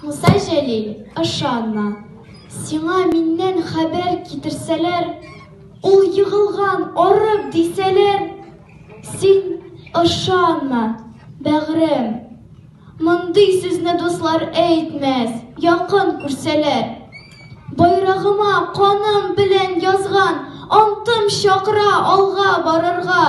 Муса Җәлил, ышанма. Сиңа миннән хәбәр китерсәләр, ул егылган, арып дисәләр, син ышанма, бәгърем. Мондый сүзне дуслар әйтмәс, якын күрсәләр. Байрагыма каным белән язган антым чакыра алга барырга.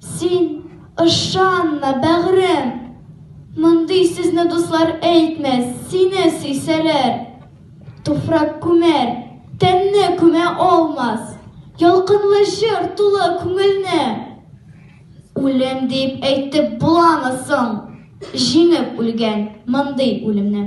Син, ышанма, бәгърем! Мондый сүзне дуслар әйтмәс, сине сөйсәләр. Туфрак күмәр, тәнне күмә алмас. Ялкынлы җыр тулы күңелне. Үлем дип әйтеп буламы соң? Җиңеп үлгән мондый үлемне.